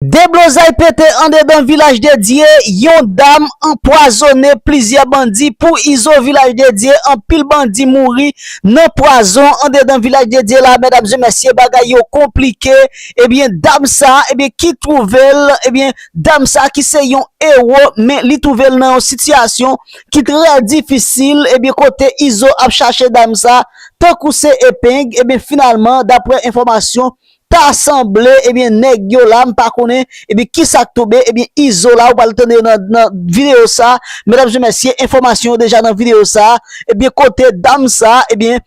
Deblozay pete andedan Vilaj de Dye, yon dam anpwazone plizyè bandi pou izo Vilaj de Dye, anpil bandi mouri nan pwazon andedan Vilaj de Dye la medam e mesye bagay yo konplike ebyen dam sa ebyen ki twouvel ebyen dam sa ki se yon ewo men li twouvel nan yon sitiyasyon ki trè difisil ebyen kote izo ap chache dam sa tankou se epeng ebyen finalman daprè enfòmasyon Ta sanble ebyen nèg yo la m pa konnen ebyen kisak tonbe ebyen izo la ou pral tande yo nan nan video sa medam e mesye enfòmasyon yo deja nan video sa ebyen kote dam sa ebyen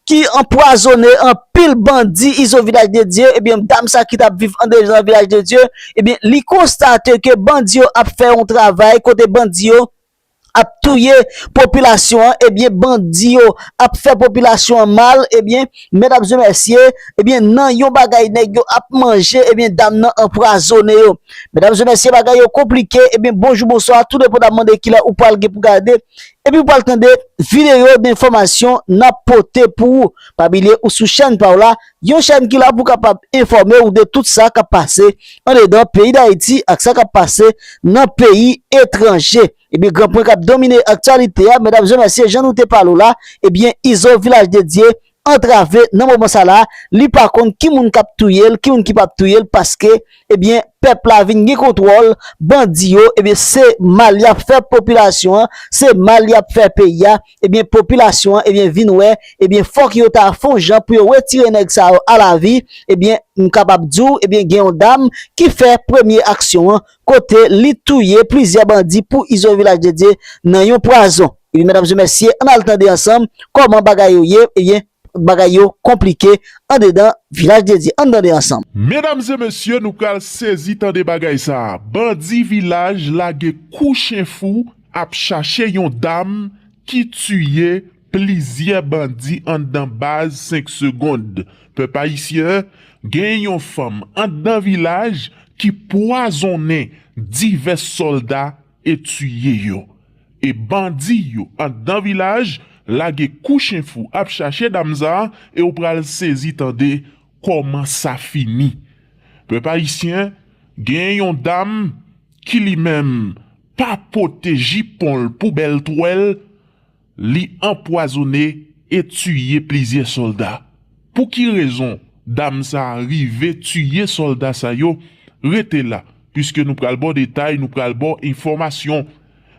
ki anpwazone anpil bandi izo vilaj de Dye ebyen dam sa ki tap viv andeje nan vilaj de Dye ebyen li konstate ke bandi yo ap fè yon travay kote bandi yo ap touye popilasyon an ebyen bandi yo ap fè popilasyon an mal ebyen mèt ap di mèsye ebyen nan yon bagay nèg yo ap manje ebyen dam nan anpwazone yo mèdam zè mèsye bagay yo konplike ebyen bonjou bonswa tou depo nan mande kilè ou pwal gen pou gade epi ou pwal tande videyo denfòmasyon nap pote pou ou pa bilye ou sou chèn pa w la Yon chèn ki la pou kapab enfòme ou de tout sa kap pase andedan peyi Dayiti ak sa kap pase nan peyi etranje. Ebyen gran pwen kap domine aktyalite a medam zè mesye jan nou te pale w la ebyen izo vilaj dedye antrave nan moman sa la li pa konn ki moun kap touye l ki moun ki pap touye l paske ebyen pèp la vin gen kontwòl bandi yo ebyen se mal yap fè popilasyon an se mal yap fè peyi a. ebyen popilasyon an ebyen vin wè ebyen fòk yo ta fon jan pou yo retire nèg sa yo alavi ebyen m kapab di w ebyen gen yon dam ki fè premye aksyon an kote li touye plizyè bandi pou izo vilaj de dye nan yon pwazon ebyen medam zye mesye ann al tande ansanm kòman bagay yo ye ebyen. Bagay yo konplike andedan vilaj dedye ann tande ansanm. Medam e mesye nou pral sezi tande bagay sa bandi vilaj lage kou chen fou ap chache yon dam ki tiye plizyè bandi andan baz 5 segond pèp ayisyen gen yon fanm andan vilaj ki pwazonnen divès sòlda e tiye yo e bandi yo andan vilaj lage kou chen fou ap chache dam sa e ou pral sezi tande koman sa fini pèp ayisyen gen yon dam ki li menm pa pote jiponl pou bèl twèl Li anpwazone e tiye plizyè sòlda. Pou ki rezon dam sa a rive tiye sòlda sa yo? Rete la, piske nou pral ba w detay, nou pral ba w enfòmasyon.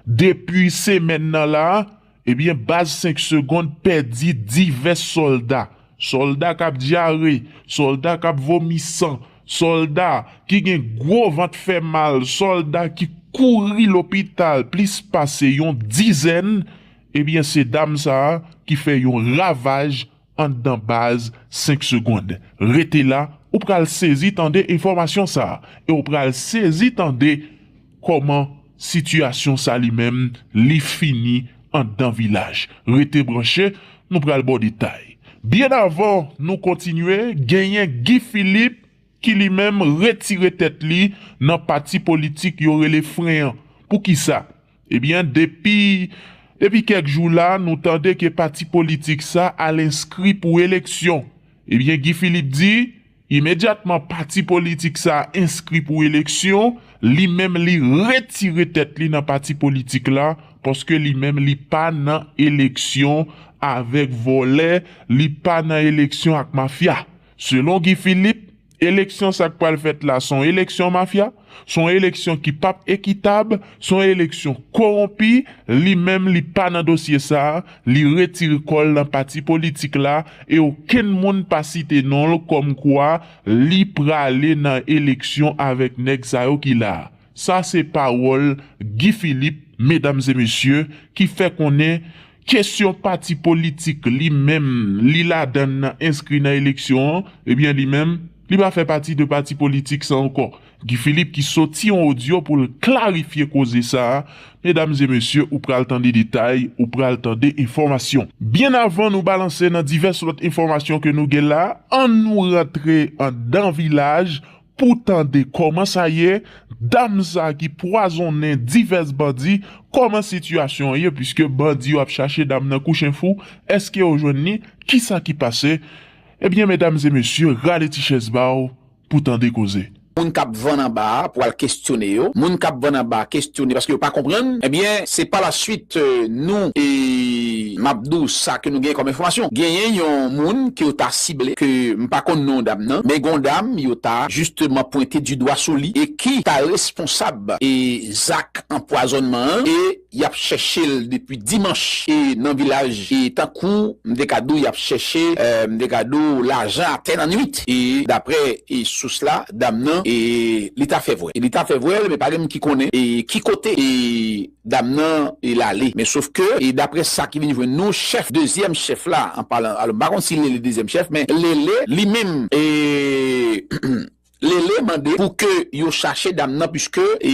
Depi semèn nan la a, ebyen baz 5 segond pèdi divès sòlda. Sòlda k ap dyare, sòlda k ap vomi san, sòlda ki gen gwo vant fè mal, sòlda ki kouri lopital plis pase yon dizèn, ebyen se dam sa a ki fè yon ravaj anndan baz 5 segond. Rete la, ou pral sezi tande enfòmasyon sa a e w pral sezi tande kòman. Sitiyasyon sa li menm li fini andan vilaj. Rete branche, nou pral ba w detay. Byen avan nou kontinye, genyen Guy Philippe ki li menm retire tèt li nan pati politik yo rele fren an. Poukisa? Ebyen depi depi kèk jou la nou tande ke pati politik sa al enskri pou eleksyon. Ebyen Guy Philippe di. Imedyatman pati politik sa a enskri pou eleksyon, li menm li retire tèt li nan pati politik la paske li menm li pa nan eleksyon avèk vòlè, li pa nan eleksyon ak mafya. Selon Guy Philippe, eleksyon sa k pral fèt la s on eleksyon mafya. Se yon eleksyon ki pap ekitab, se yon eleksyon kowonpi, li menm li pa nan dosye sa, li retire kò l nan pati politik la e okenn moun pa site non l kòm kwa li prale nan eleksyon avèk nèg sa yo ki la. Sa se pawòl Guy Philippe, medam e mesye, ki fè konnen Kesyon pati politik li menm li ladann nan enskri nan eleksyon an ebyen li menm li pa fè pati de pati politik sa ankò. Guy Philippe ki soti yon odyo pou l klarifye koze sa a medam e mesye ou pral tande detay ou pral tande enfòmasyon. Byen avan nou balanse nan divès lòt enfòmasyon ke nou gen la an nou rantre andan vilaj Pou tande koman sa ye, dam sa ki pwazonnen divès bandi, koman sitiyasyon an ye puiske bandi yo ap chache dam nan kou chen fou, eske yo jwenn li, kisa ki pase, ebyen medam e mesye rale ti chèz ba w pou tande koze. Moun kap vann anba a pwal kestyone yo, moun kap vann anba kestyone paske yo pa konprann, ebyen se pa la swit nou. Map di w sa ke nou genyen kòm enfòmasyon. Genyen yon moun ke yo ta sible, ke m pa konn non dam nan, men gon dam yo ta jisteman pwente di dwa sou li e ki ta responsab e zak anpwazònman an e yap chèche l depi dimanch e nan vilaj e tankou m te ka di w yap chèche m te ka di w lajan atè nan nwit e daprè e sous la dam nan e li ta fè vwèl e li ta fè vwèl men pa gen moun ki konnen e ki kote e Dam nan e lale. Men sof ke e dapre sa ki vin jwenn nou chèf dezyèm chèf la an palan alon m pa konn si Lele dezyèm chèf men Lele li menm e Lele mande pou ke yo chache dam nan puiske e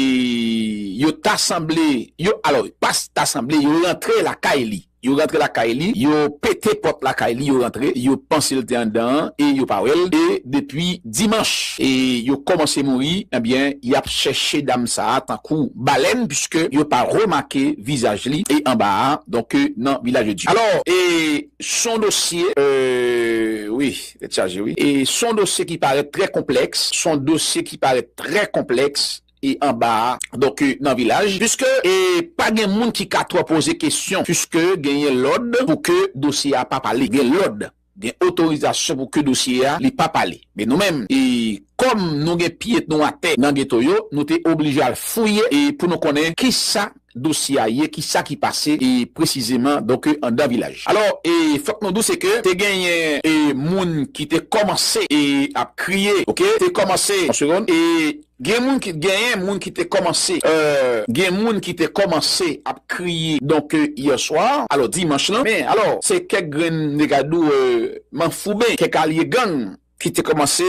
yo ta sanble yo alon pas ta sanble yo rantre lakay li. Yo rantre lakay li, yo pete pòt lakay li, yo rantre, yo panse l te anndan an e yo pa wè l e depi dimanch e yo kòmanse mouri, enbyen y ap chèche dam sa a tankou balèn puiske yo pa remake vizaj li e anba a donk nan Vilaj de Dye. Alò e s on dosye wi, tèt chaje wi, e s on dosye ki parèt trè konplèks, s on dosye ki parèt trè konplèks e anba a donk nan vilaj puiske e pa gen moun ki ka twò poze kesyon puiske genyen lòd pou ke dosye a pa pale gen lòd gen otorizasyon pou ke dosye a li pa pale men nou menm e kòm nou gen pye nou atè nan geto yo nou te oblije al fouye e pou nou konnen kisa dosye a ye kisa ki pase e presizeman donk andan vilaj alò e fòk nou dou se ke te genyen e moun ki te kòmanse e ap kriye ok te kòmanse yon segond e Gen moun ki genyen moun ki te kòmanse euh gen moun ki te kòmanse ap kriye donk hier soir alò dimanch lan men alò se kèk grenn negadou euh manfouben kèk alye gang ki te kòmanse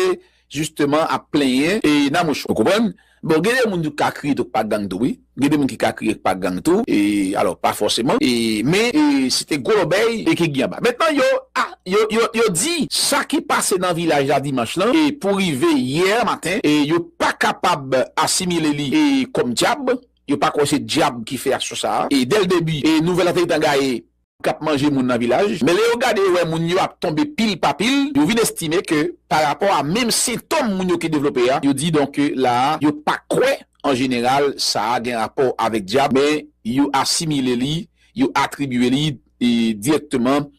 jisteman ap plenyen e nan mouch ou konprann bon gen de moun tou k ka kriye tou k pa gang tou wi. Gen de moun ki ka kriye k pa gang tou e alò pa fòseman e men e se te gwo lòbèy e ki gin anba. Mentnan yo a yo yo yo di sa ki pase nan vilaj la dimanch lan e pou rive yè maten e yo pa kapab asimile li e kòm dyab. Yo pa kwè se dyab ki fè aksyon sa a e dèl debi e nouvèl la te gentan gaye. kap manje moun nan vilaj, men lè yo gade yo wè moun yo ap tonbe pil pa pil, yo vin estime ke pa rapò a menm sentom moun yo ki devlope a, yo di donk ke la a yo pa kwè an jeneral sa a gen rapò avèk dyab men yo asimile li, yo atribye li dirèkteman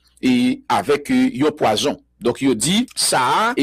avèk yon pwazon. Donk yo di sa a.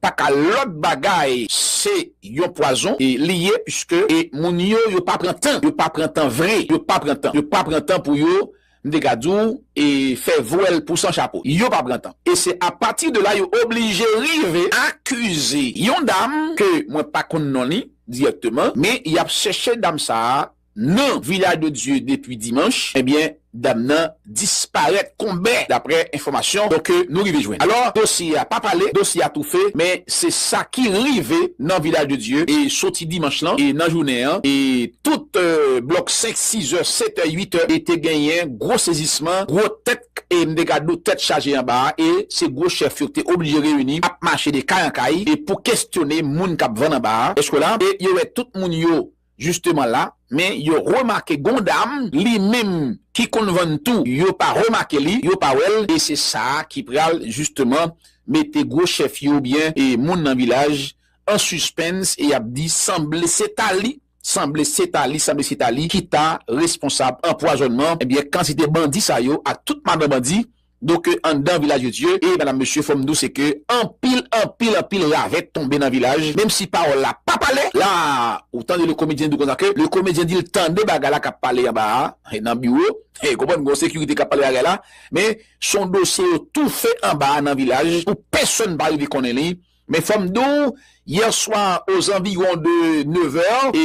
paka lot bagay se yon pwazon li ye pske e moun yo yo pa pran tan yo pa pran tan vre yo pa pran tan yo pa pran tan pou yo m te ka di w e fè vwèl pou san chapo yo pa pran tan e se a pati de la yo oblije rive akize yon dam ke mwen pa konn non li dirèkteman men yap chèche dam sa nan Villa de Dieu depi dimanch ebyen dam nan disparèt konbè daprè enfòmasyon ke nou rive jwenn alò dosye a pa pale dosye a toufe men se sa ki rive nan Village de Dieu e soti dimanch lan e nan jounen an e tout blòk 5 6 è 7 è 8 è e te genyen gwo sezisman gwo tèt e m te ka di w tèt chaje anba a e se gwo chèf yo ki te oblije reyini ap mache de kay an kay e pou kestyone moun k ap vann anba a èske w la e yo wè tout moun yo Justement la men yo remake gon dam li menm ki konn vann tou yo pa remake li yo pa wèl e se sa ki pral justement mete gwo chèf yo oubyen e moun nan vilaj an suspens e yap di sanble se ta li sanble se ta li sanble se ta li ki ta responsab anpwazònman ebyen kantite bandi sa yo ak tout madan bandi do ke anndan vilaj de Dye e madam mesye fòm diw se ke anpil anpil anpil ravèt tonbe nan vilaj menm si pawòl la pa pale la ou tande le komedyen diw konsa ke le komedyen dil tande bagay la kap pale anba a e nan biwo e konprann gon sekirite kap pale bagay la men son dosye yo toufe anba a nan vilaj pou pèsòn pa rive konnen li Men fòm di w, yè swa o zanviwon de nevè, e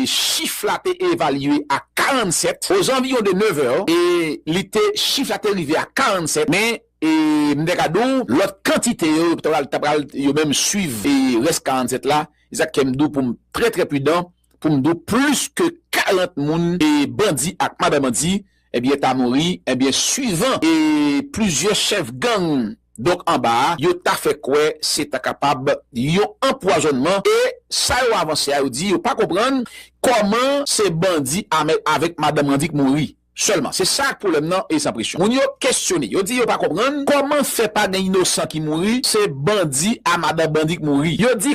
chif la te evalye a 47, o zanviwon de nevè, e li te, chif la te rive a 47, men e m te ka di w lòt kantite yo ta pral, ta pral yo menm swiv e rès 47 la, e sa k fè m di w pou m trè trè pridan pou m di w plis ke 40 moun e bandi ak madan bandi. Ebyen ta mouri ebyen suivan e plizyè chèf gang donk anba a yo ta fè kwè se ta kapab yon anpwazònman e sa yo avanse a yo di yo pa konprann kòman se bandi Amel avèk madanm an di k mouri sèlman se sa k pwoblèm nan e san presyon moun yo kesyone yo di yo pa konprann kòman fè pa gen inosan ki mouri se bandi a madan bandi k mouri yo di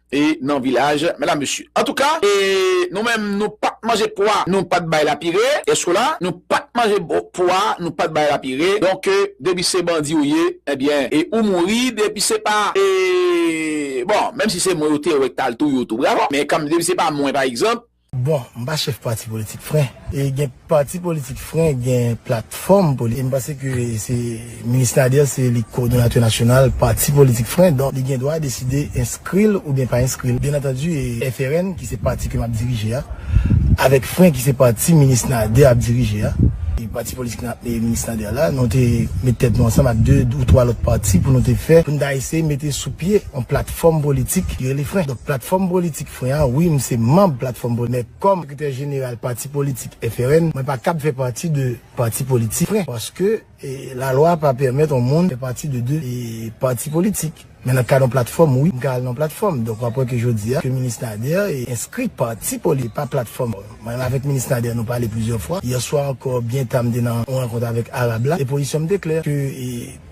e nan vilaj mèdam mesye antouka e nou menm nou pat manje pwa nou pat bay lapire eske w la nou pat manje pwa nou pat bay lapire donk depi se bandi ou ye ebyen e ou mouri depi se pa e bon menm si se mwen yo te wè k tal touye w tou bravo men kan depi se pa mwen pa egzanp Bon, m pa chèf pati politik fren. E gen pati politik fren gen platfòm politik. E m panse ke se Minis Nader se li kowodonatè nasyonal pati politik fren. Donk li gen dwa deside enskri l oubyen pa enskri l. Byennantandi FRN ki se pati ke m ap dirije a, avèk fren ki se pati Minis Nader ap dirije a, e pati politik Minis Nader la, nou te met tèt nou ansanm ak 2 ou 3 lòt pati pou nou te fè, pou nou ta eseye mete sou pye yon platfòm politik ki rele fren. Donk platfòm politik. Mwen an wi m se manb platfòm bonè kòm sekretè jeneral pati politik FRN mwen pa kab fè pati de pati politik fren paske la lwa pa pèmèt on moun fè pati de 2 pati politik men nan kad on platfòm wi m ka al nan platfòm donk wap wè ke jodi a ke minis Nader enskri pati politik e pa platfòm mwen menm avèk minis Nader nou pale plizyè fwa yè swa ankò byen ta m te nan on rankont avèk Arab la e pozisyon m te klè ke.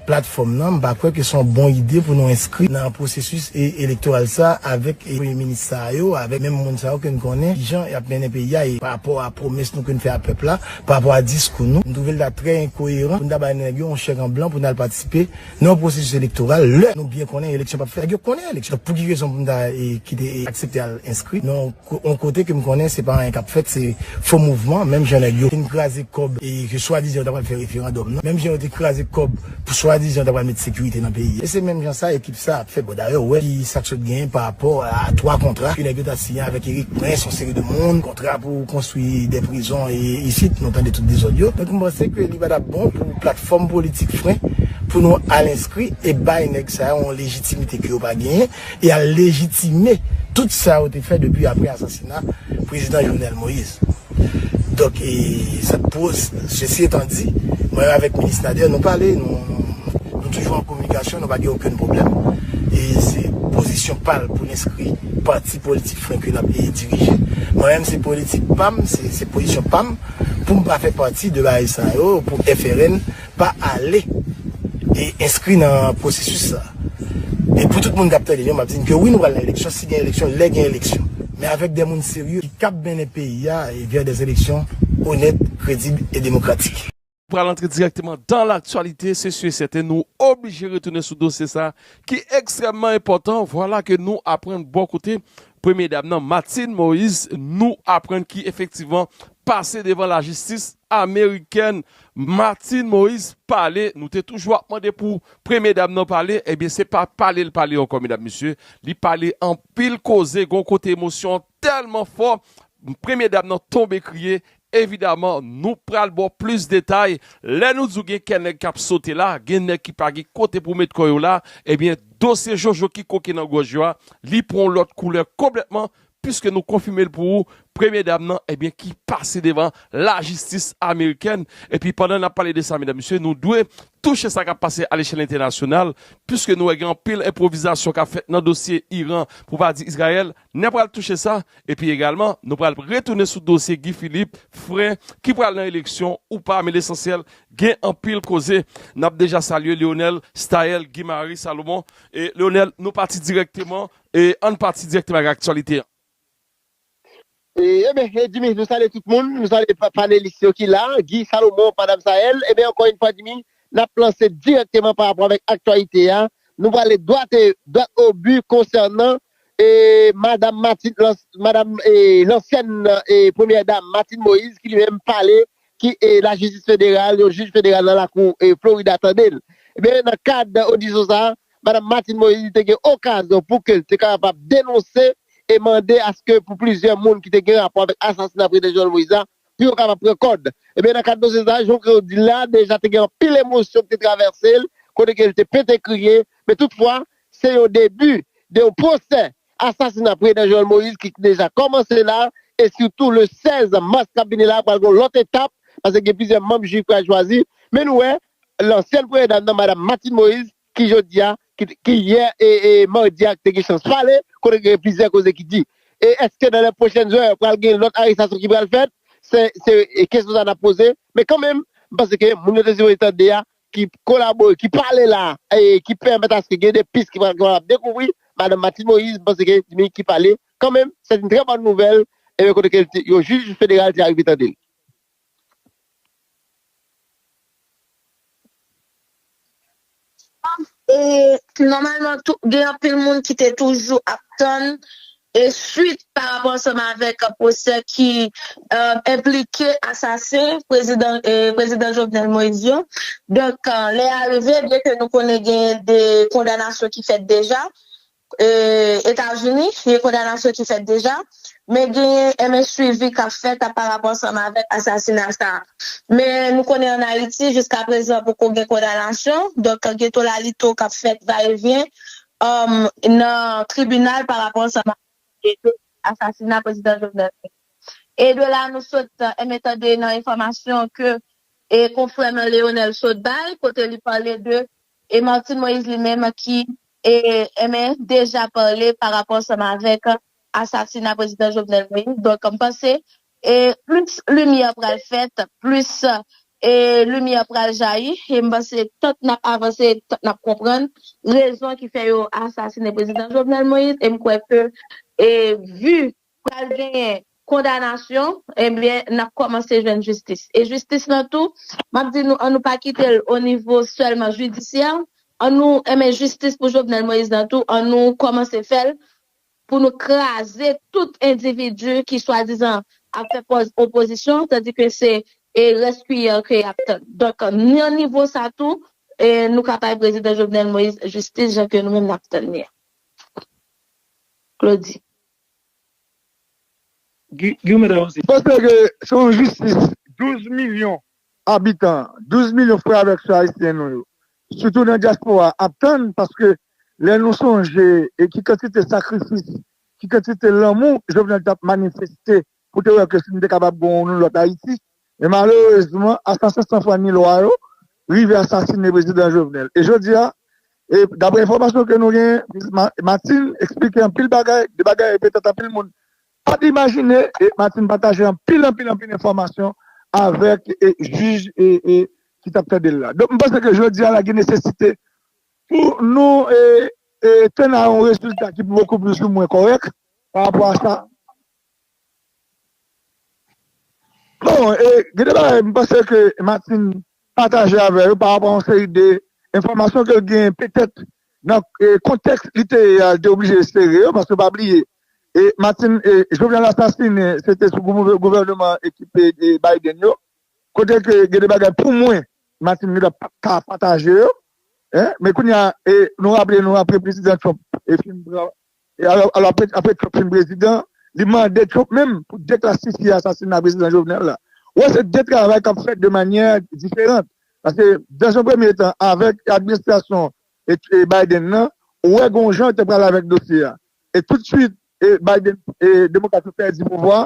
Platfòm nan, m pa kwè ke se yon bon ide pou nou enskri nan pwosesis elektoral sa a avèk premye minis sa yo, avèk menm moun sa yo ke n konnen kijan y ap mennen peyi a e parapò a pwomès nou ke n fè a pèp la, parapò a diskou nou. M twouve l ta trè enkoyeran pou n ta bay nèg yo yon chèk an blan pou n al patisipe nan yon pwosesis elektoral lè nou byen konnen eleksyon p ap fèt. Nèg yo konnen eleksyon fèt, pou ki rezon pou m ta kite e aksepte al enskri nan yon. On kote ke m konnen se pa anyen k ap fèt, se fo mouvman, menm jan nèg yo fin kraze kòb e ke swadizan yo ta pral fè referandòm nan, menm jan yo te kraze kòb pou swadizan yo ta pral mete sekirite nan peyi a. E se menm jan sa ekip sa a ap fè. Bon, dayè, ou wè ki sa k sot genyen parapò a twa kontra ke nèg yo ta siyen avèk Erik Prince, on seri de moun, kontra pou konstwi de prizon e isit nou tande tout dezòd yo. Donk, m panse ke li pa t ap bon pou platfòm politik fren pou nou al enskri e bay nèg sa yo on lejitimite ke yo pa genyen e al lejitime tout sa yo te fè depi apre asasina Prezidan Jovenel Moïse. Donk, e sa k pou, sesi etan di, mwen menm avèk Minis Nader nou pale, nou toujou an kominikasyon, nou pa gen okenn pwoblèm. E se pozisyon pa l pou l enskri pati politik frenk ke l ap dirije. Mwen menm se politik pa m, se pozisyon pa m pou m pa fè pati de bagay sa yo pou FRN. pa ale e enskri nan pwosesis sa a. E pou tout moun k ap tande m yo, m ap di n ke wi nou pral nan eleksyon, si gen eleksyon, lè gen eleksyon. Men avèk de moun serye ki kab mennen peyi a vè de eleksyon onèt, kredib e demokratik. Pral antre dirèkteman dan laktyalite, se si e sèten nou oblije retounen sou dosye sa a ki ekstrèmman enpòtan. Vwala ke nou aprann bò kote premye dam nan, Martine Moïse, nou aprann ki efektivman pase devan lajistis amerikèn Martine Moise pale nou te toujou ap mande pou premye dam nan pale ebyen se pa pale li pale ankò medam mesye li pale anpil koze gon kote emosyon an tèlman fò premye dam nan tonbe kriye evidaman nou pral baw plis detay lè nou di w gen kè nèg kap sote la gen nèg ki pa gen kote pou met kò yo la ebyen dosye jojo ki koke nan gòj yo a li pran yon lòt koulè konplètman Piske nou konfime l pou ou premye dam nan ebyen ki pase devan lajistis amerikèn epi pandan n ap pale de sa medam mesye nou dwe touche sa k ap pase alechèl entènasyonal piske nou wè gen anpil enpwovizasyon k ap fèt nan dosye Iran pou pa di Izrayèl n ap pral touche sa epi egalman nou pral retounen sou dosye Guy Philippe frè ki pral nan eleksyon ou pa men lesansyèl gen anpil koze n ap deja salye Leonel Staël Guimari Salomon e Leonel nou pati dirèkteman E ann pati dirèkteman ak aktyalite an. Eben e Jimmy nou salye tout moun, nou salye panelis yo ki la, Guy, Salomon, Madam Saëlle, eben ankò yn fwa Jimmy nap lanse dirèkteman pa rapò avèk aktyalite a, nou prale dwat e dwat o bi konsènan e Madam Martine lans Madam e lansyèn e premyè dam Martine Moïse ki li menm pale ki e lajistis federal yon jij federal nan lakou e Florida tandel. Eben nan kad odisyon sa Madam Martine Moise te gen okazyon pou ke l te kapab denonse e mande aske pou plizyè moun ki te gen rapò avèk asasina Prezidan Jovenel Moise la, pou yo kapab pran kòd. Ebyen nan kad dosye sa, jan w ke w di l la, deja te gen anpil emosyon ki te travèse l, kote ke l te pete kriye, men tout fwa, se yon debi de yon pwosè asasina Prezidan Jovenel Moise ki deja kòmanse la, e sitou le 16 mas k ap vini la pral gen yon lòt etap, paske gen plizyè manm jiri k pral chwazi, men nou wè Lansyèn premye dam nan Madam Martine Moïse ki jodi a ki yè madi a te gen chans pale kote gen plizyè koze ki di. E eske nan lè pwochèn zè pral gen lòt arestasyon ki pral fèt se kesyon sa nap poze men kan menm m panse ke moun yo te sipoze tande a ki kolabore ki pale la ki pèmèt aske gen de pis ki pral kapab dekouvri Madam Martine Moïse m panse ke se li ki pale kan menm sèt in trè bòn nouvèl kote ke yon jij federal te arive tande l. E nòmalman tou gen anpil moun ki te toujou ap tann e swit pa rapò ansanm avèk pwosè ki enplike asasen prezidan prezidan Jovenel Moïse yo. Donk lè a rive byenke nou konnen genyen 2 kondanasyon ki fèt deja Etazini, gen kondanasyon ki fèt deja, men genyen MH swivi k ap fèt a parapò ansanm avèk asasina sa a. Men nou konnen ann Ayiti jiska prezan poko gen kondanasyon, donk gen tolalito k ap fèt va e vyen nan tribinal parapò ansanm avèk dosye asasina Prezidan Jovenel Moïse. E de la nou sot enben tande nan enfòmasyon ke konfrè nou an Leonel sot bay kote li pale de E Martine Moïse li menm ki e men deja pale pa rapò ansanm avèk asasina prezidan Jovenel Moïse donk m panse e plis limyè pral fèt plis e limyè pral jayi e m panse tank nap avanse tank nap konprann rezon ki fè yo asasine prezidan Jovenel Moïse e m kwè ke e vu pral genyen kondanasyon ebyen nap kòmanse jwenn jistis e jistis lan tou map di nou an nou pa kitel o nivo sèlman jidisyè an nou enben jistis pou Jovenel Moïse lan tou an nou kòmanse fèl pou nou kraze tout endividi ki swadizan ap fè pòz opozisyon tandi ke se e rès kiyè ke yap tann donk nan nivo sa tou e nou ka bay prezidan Jovenel Moïse jistis jan ke nou menm nap tann li a Claudy. Guy met avanse. Panse ke se yon jistis 12 milyon abitan, 12 milyon frè avèk sè ayisyen nou yo, sitou nan dyaspora a, ap tann paske lè nou sonje ki kantite sakrifis, ki kantite lanmou Jovenel t ap manifeste pou te wè ke si nou te kapab gen yon lòt Ayiti, men malerezman asasen san fwa ni lwa yo rive asasine Prezidan Jovenel. E jodi a, daprè enfòmasyon ke nou genyen, Minis Martine eksplike anpil bagay, de bagay e petèt anpil moun pa t imajine, e Martine pataje anpil, anpil, anpil enfòmasyon avèk jij ki t ap tande l la. Donk m panse ke jodi a la gen nesesite pou nou tenn a yon rezilta ki pou bokou plis ou mwen kòrèk parapò a sa. Bon e gen de bagay m panse ke Martine pataje avè yo pa rapò a yon seri de enfòmasyon ke l genyen petèt nan kontèks li te ye a li te oblije sere yo paske pa bliye e Martine Jovenel asasinen se te sou gouvèneman ekip Biden yo kote ke gen de bagay pou mwen Martine gen dwa pat ka pataje yo men kounye a nou raple nou apre prezidan Trump fin pran Alò apre Trump fin prezidan, li mande Trump menm pou deklasifye asasina prezidan Jovenel la. Ou wè se 2 travay kap fèt de manyè diferant. Paske dans un premye tan avèk administrasyon Biden nan, ou wè gon jan yo te pral avèk dosye a. E tout swit Biden, demokrat yo pèdi pouvwa,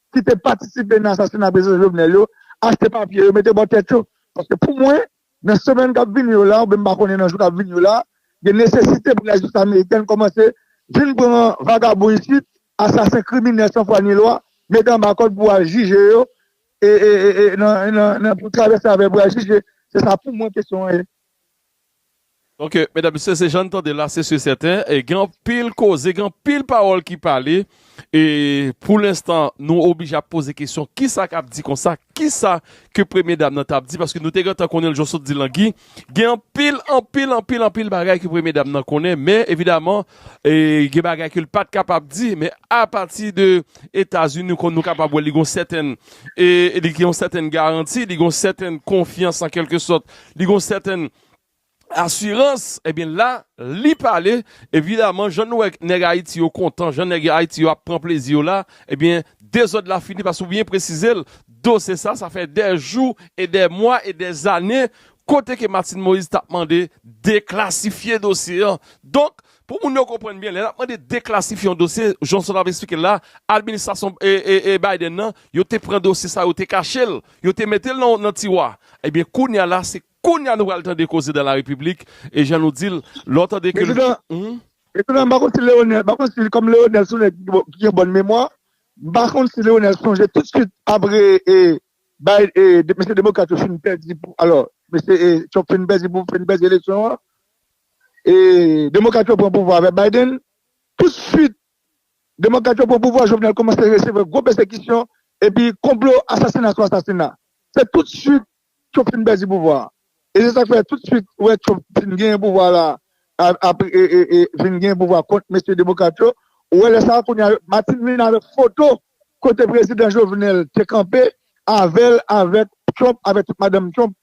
ki te patisipe nan asasina prezidan Jovenel yo achte papye yo mete bò tèt yo paske pou mwen nan semèn kap vini yo la oubyen m pa konnen nan jou kap vini yo la gen nesesite pou lajistis amerikèn kòmanse vin pran vagabon isit asasen kriminèl san fwa ni lwa mete anba kòd pou al jije yo e nan pou travèse avè pou al jije se sa pou mwen kesyon an ye. Ok medam mesye se jann tande la se su sèten gen anpil koze gen anpil pawòl ki pale e pou lenstan nou oblije ap poze kesyon kisa kap di konsa kisa ke premye dam nan tap di paske nou te gentan konnen jan w sot di lan Guy gen anpil anpil anpil anpil bagay ke premye dam nan konnen men evidaman gen bagay ke l pat kapab di men apati de etazini kon nou kapab wè li gon sèten e li gen yon sèten garanti li gon sèten konfyans an kelke sòt li gon sèten asirans ebyen la li pale evidaman jan nou wè nèg ayiti yo kontan jan nèg ayiti yo ap pran plezi yo la ebyen dezòd la fini paske ou byen presizel dosye sa sa fè dè jou e dè mwa e dè zane kote ke Martine Moïse tap mande deklasifye dosye an donk Pou moun yo konprann byen, lè n ap mande deklasifye yon dosye, jan Solange ap esplike l la, administrasyon Biden nan, yo te pran dosye sa, yo te kache l, yo te mete l nan tiwa. Ebyen kounye a la, se kounye a nou pral tande koze dan la repiblik, e jan nou di l, lè w tande ke l. Prezidan, m pa konn si Leonel, m pa konn si kòm Leonel se yon nèg ki gen bòn memwa, m pa konn si Leonel sonje tousuit apre mesye demokrat yo fin pèdi, alò, mesye Trump fin pèdi pou fin pèdi eleksyon an, E demokrat yo pran pouvwa avè Biden, tout swit demokrat yo pran pouvwa Jovenel koumanse resevwa gwo pèsekisyon epi konplo asasina sou asasina. Se tout swit Trump fin pèdi pouvwa. E se sak fè tout swit ou wè Trump fin genyen pouvwa la e fin genyen pouvwa kont mesye demokrat yo, ou wè lè sa kounya Martine vin avèk foto kote prezidan Jovenel te kanpe avèl avèk Trump avèk tout madanm Trump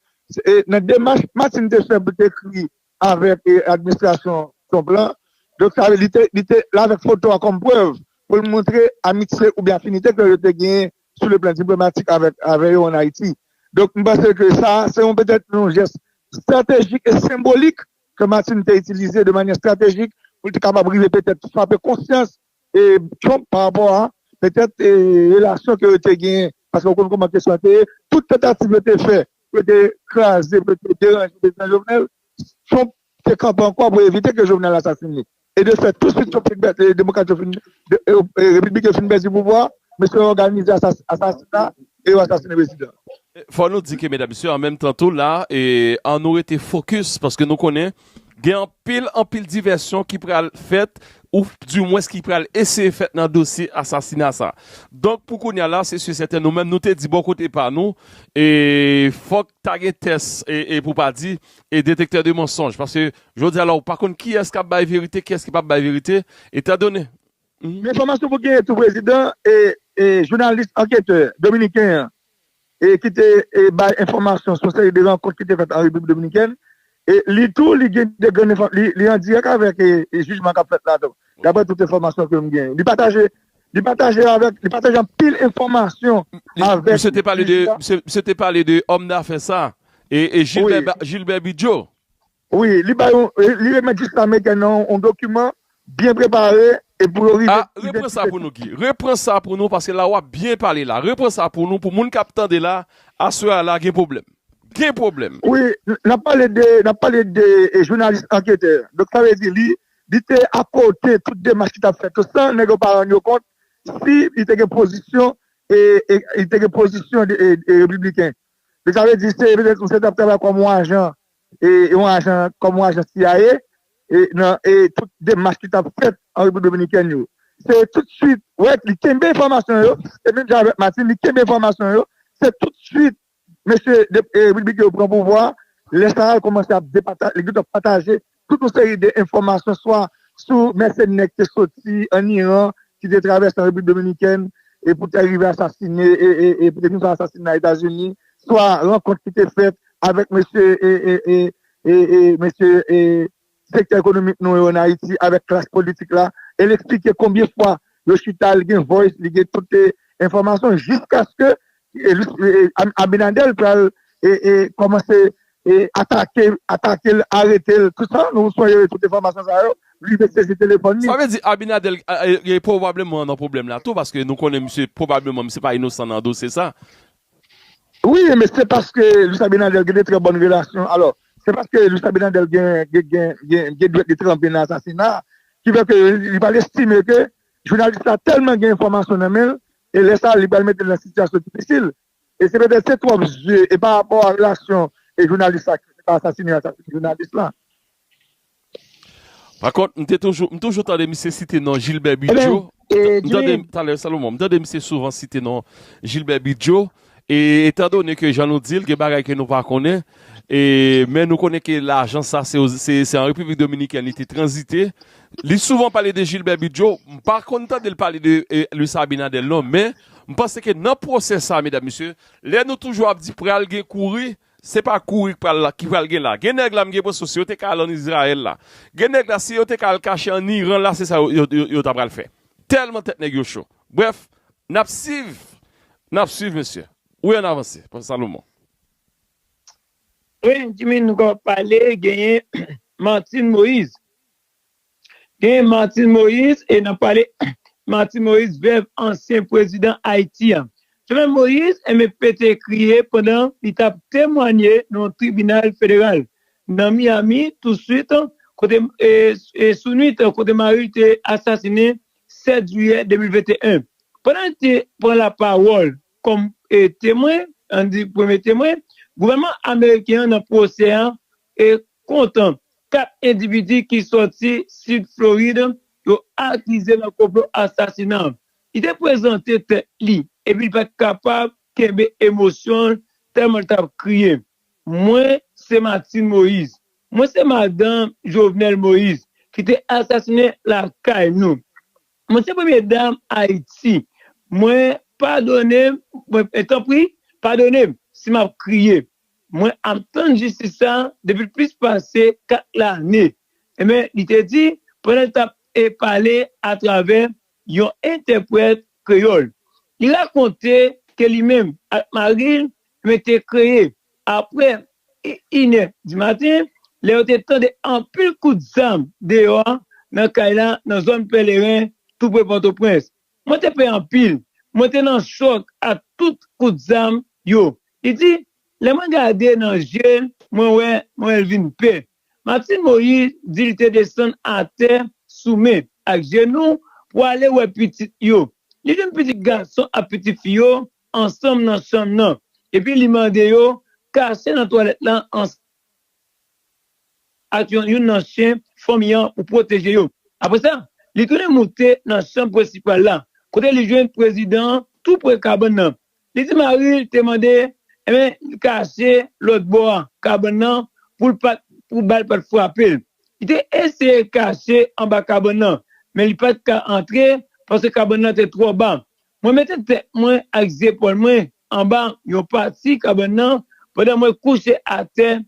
nan demach Martine te fè pou te ekri avèk administrasyon Trump lan donk sa vle di li te la avèk foto a kòm prèv pou l montre amitye oubyen afinite ke yo te genyen sou le plan diplomatik avè yo an Ayiti donk m panse ke sa se yon petèt yon jès estratejik e senbolik ke Martine te itilize de manyè estratejik pou l te kapab rive petèt frape konsyans Trump pa rapò a petèt relasyon ke yo te genyen, paske ou konn kouman kesyon an te ye, tout tantativ yo te fè pou yo te kraze, pou yo te deranje Prezidan Jovenel, Trump te kanpe ankò pou evite ke Jovenel asasine li. E de fèt, tou swit Repibliken yo fin pèdi pouvwa, mesye yo òganize asasina. E yo asasine prezidan. Fò nou di ke medam mesye an menm tan tou la an nou rete fokis paske nou konnen gen anpil anpil divèsyon ki pral fèt ou di mwens ki pral eseye fèt nan dosye asasina sa. Donk pou kounya la se si sèten nou menm nou te di bò kote pa nou e fòk ta gen tès e pou pa di e detektè de mansonj paske jodi a la ou pa konn kiyès kap bay verite kiyès ki pap bay verite etan done Enfòmasyon pou genyen tou prezidan e jounalis anketè dominiken an e ki te bay enfòmasyon sou seri de rankont ki te fèt an Repiblik Dominikèn e li tou li gen de grenn enfò li an dirèk avèk jijman kap fèt la tou daprè tout enfòmasyon kem genyen li pataje li pataje avèk li pataje anpil enfòmasyon avèk Misye te pale de misye te pale de òm dafè sa e e Gilbert Gilbert Bidjo. Wi, li bay yon, li remèt jij Samegan nan yon dokiman byen prepare e pou yo rive Ah, repran sa idantifye pou nou Guy, repran sa pou nou paske la wap byen pale la, repran sa pou nou pou moun kap tande la, aswè a la gen pwoblèm, gen pwoblèm. Wi, nap pale de, nap pale de jounalis anketè, donk sa vle di li, li te akote tout demach ki tap fèt yo san nèg yo pa rann yo kont si li te gen pozisyon e li te gen pozisyon e repibliken. Donk sa vle di se petèt misye tap travay kòm yon ajan yon ajan kòm yon ajan cia nan tout demach ki tap fèt an Repiblik Dominikèn yo. Se tout swit wè li kenbe enfòmasyon yo e menm jan avèk Martine li kenbe enfòmasyon yo, se tout swit mesye Wilby ke yo pran pouvwa lè sa a li kòmanse ap depataje, li gentan pataje tout yon seri de enfòmasyon swa sou mèsenè ki te soti an Iran ki te travèse an Repiblik Dominikèn e pou te rive asasine e pou te vin fè asasinay Etazini swa rankont ki te fèt avèk mesye sektè ekonomik nou yo an Ayiti, avèk klas politik la, e l eksplike konbyen fwa yo chita, li gen voice, li gen tout enfòmasyon, jiskaske Abinadèl pral kòmanse atake, atake l, arete l, tout sa, nou sonje tout enfòmasyon sa yo, rive sezi telefòn li. Sa vle di Abinadèl pwobableman nan pwoblèm la tou, paske nou konnen misye pwobableman misye pa inosan nan dosye sa, Wi men se paske Luis Abinader gen de trè bòn relasyon alò se paske Luis Abinader gen dwèt li tranpe nan asasina ki fè ke li pral estime ke jounalis la tèlman gen enfòmasyon nan men l e lè sa li pral mete l nan sitiyasyon difisil e se petèt se twòp zye e pa rapò a relasyon jounalis la ki te asasine jounalis la. Pa kont, m te toujou, m toujou tande misye site non Jilbè Bidjo, m tande talè Salomon, m tande misye souvan site non Jilbè Bidjo, e etan done ke jan nou di l, gen bagay ke nou pa konnen, e men nou konnen ke lajan sa se o, se an Repiblik Dominikèn li te tranzite, li souvan pale de Jilbè Bidjo, m pa konn tande l pale de Luis Abinader non, men m panse ke nan pwosè sa medam mesye, lè nou toujou ap di pral gen kouri, Se pa kouri k pral la ki pral gen la. Gen nèg la m gen presyon si yo te ka al an Izrayèl la. Gen nèg la si yo te ka al kache an Iran la se sa yo ta pral fè. Tèlman tèt nèg yo cho. Brèf, n ap siv, n ap suiv mesye. Wi an avanse, Pwofè Salomon. Wi Jimmy nou ka pale genyen Martine Moise. Genyen Martine Moïse e nap pale Martine Moïse vèv ansyen prezidan Ayiti an. Jovenel Moïse enben pete kriye pandan li tap temwanye nan yon tribinal federal nan Miami tou swit kote sou nwit kote maril te asasine 7 jiyè 2021. Pandan li te pran la pawòl kòm temwen, an di premye temwen, gouvènman ameriken an nan pwosè an e kontan. 4 endividi ki sòti Sid Florid yo akize nan konplo asasina an. Li te prezante tèt li epi li pa t kapab kenbe emosyon l tèlman l t ap kriye, Mwen se Martine Moïse. Mwen se madanm Jovenel Moïse ki te asasine lakay nou. Mwen se premye dam Ayiti. Mwen padone m, tanpri padone m si m ap kriye. Mwen ap tann jistis sa a depi plis pase 4 lane, enben, li te di pandan l t ap pale atravè yon entèprèt kreyòl. Li rakonte ke li menm ak mari l te kreye apre inè di maten lè yo te tande anpil kout zam deyò nan kay la nan zòn Pèleren, toupre Pòtoprens. Mwen te pè anpil. Mwen te nan chòk ak tout kout zam yo. Li di, Lè mwen gade nan je l, mwen wè mwen wè l vin pè. Martine Moïse di li te desann atè sou men ak jenou pou ale wè pitit yo. Li jwenn pitit gason ak pitit fi yo ansanm nan chanm nan epi li mande yo kache nan twalèt la ansanm. ak yon youn nan chen fanmi an pou pwoteje yo. Apre sa, li tounen moute nan chanm prensipal la, kote li jwenn prezidan an tou pre kabann nan. Li di mari l te mande enben li kache lòt bò a kabann nan pou l pat pou bal pat frape l. Li te eseye kache anba kabann nan, men li pat ka antre paske kabann nan te twò ba. Mwen mete tèt mwen ak zepòl mwen anba yon pati kabann nan pandan mwen kouche atè,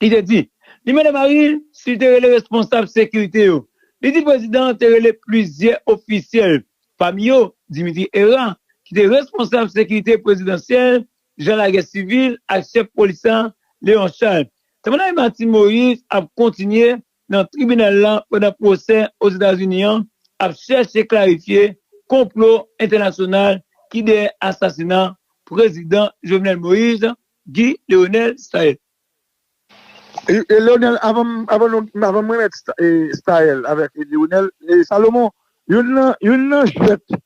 li te di. Li mande mari l si li te rele responsab sekirite yo. Li di prezidan an te rele plizyè ofisyèl, pami yo Dimitri Herra, ki te responsab sekirite prezidansyèl, jan lagè sivil ak chèf polis la, Léon Charles. Sa Madaye Martine Moïse ap kontinye nan tribinal la pandan pwosè Ozetazini an ap chèche klarifye konplo entènasyonal ki dèyè asasina Prezidan Jovenel Moise, Guy Leonel Staël. E Leonel, avan m remèt Staël avèk Leonel, Salomon, youn nan jwèt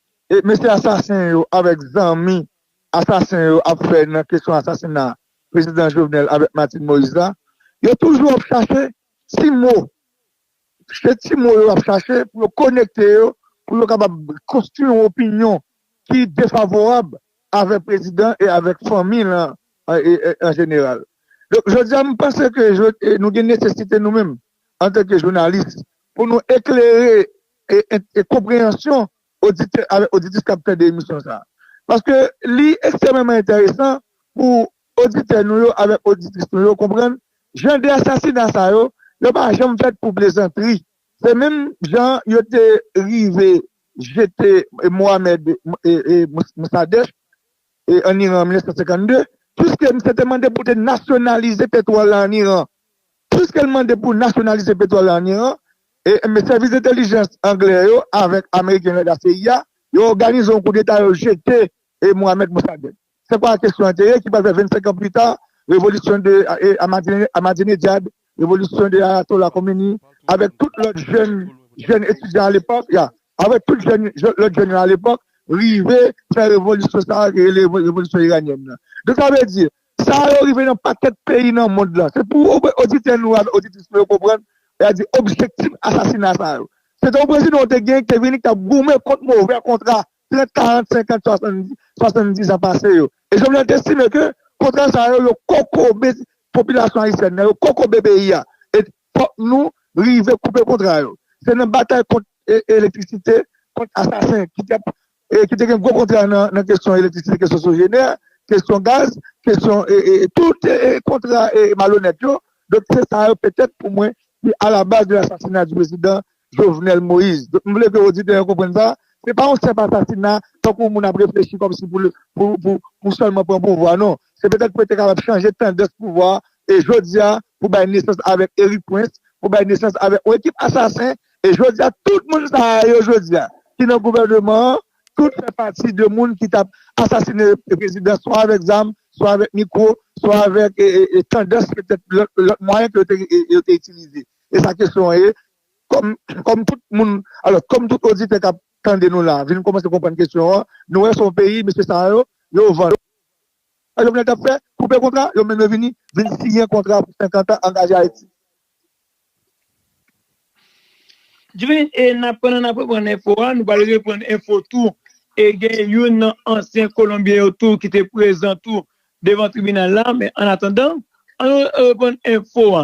mesye asasen yo avèk zanmi asasen yo ap fè nan kesyon asasina prezidan Jovenel avèk Martine Moïse la, yo toujou ap chache ti mo, se ti mo yo ap chache pou yo konekte yo, pou yo kapab konstwi yon opinyon ki defavorab avèk prezidan e avèk fanmi l an jeneral. Donk jodi a m panse ke nou gen nesesite nou menm antanke jounalis pou nou eklere konpreyansyon oditè avèk oditrice kap tande emisyon sa. Paske li ekstrèmeman entèresan pou oditè nou yo avèk oditris nou yo konprann jan de asasina sa yo, yo pa janm fèt pou plezantri. Se menm jan yo te rive jete Mohamed Mossadegh an Iran an 1952, puiske misye te mande pou te nasyonalize petwòl la an Iran. Puiske l mande pou nasyonalize petwòl la an Iran, enben sèvis entèlijans anglè yo avèk ameriken yo la CIA, yo òganize yon koudeta yo jete Mohamed Mossadegh. Se kwa kesyon an te ye ki pral fè 25 an pli ta revolisyon de Ahmadinejad, revolisyon de Ayatollah Khomeini avèk tout lòt jèn jèn etidyan alepòk, ya, avèk tout jèn lòt jèn yo alepòk rive fè revolisyon sa a ki rele revolisyon iranyèn nan. Donk sa vle di Sa yo rive nan pakèt peyi nan mond lan. Se pou oditè nou yo ak oditris nou yo konprann, lè y ap di objektif asasina sa yo. Se te yon prezidan yo te genyen ki te vini ki t ap goumen kont movè kontra 30, 40, 50, 70, 70 an pase yo. E Jovenel te estime ke kontra sa yo, yo kokobe popilasyon ayisyèn nan, yo kokobe peyi a. E fòk nou rive koupe kontra yo. Se nan batay kont elektrisite, kont asasen ki t ap e ki te gen gwo kontra nan kesyon elektrisite, kesyon sojenè, kesyon gaz, kesyon tout kontra malonèt yo, donk se sa yo petèt pou mwen ki a la baz de l'assassinat du president Jovenel Moïse. Donk m vle ke oditè yo konprann sa, se pa yon senp asasina tankou moun ap reflechi kòmsi pou sèlman pran pouvwa non, se petèt pou yo te kapab chanje tandans pouvwa e jodi a pou bay nesans avèk Erik Prince, pou bay nesans avèk yon ekip asasen E jodi a tout moun sa a yo jodi a ki nan gouvèneman an tout fè pati de moun ki t ap asasine prezidan swa avèk zam, swa avèk mikwo, swa avèk tandans petèt lòt mwayen ke yo te itilize. E sa kesyon an ye, kòm tout moun, alò kòm tout oditè k ap tande nou la a vin kòmanse konprann kesyon an, nou wè se yon peyi mesye sa yo, yo vann. Sa Jovenel t ap fè, koupe kontra, yo mennen vini, vin siyen kontra pou 50 an angaje Ayiti. Jwen e nap pandan nap reprann enfo a nou pral reprann enfo tou e gen youn nan ansyen kolonbyen yo tou ki te prezan tou devan tribinal la men an atandan an nou reprann enfo a.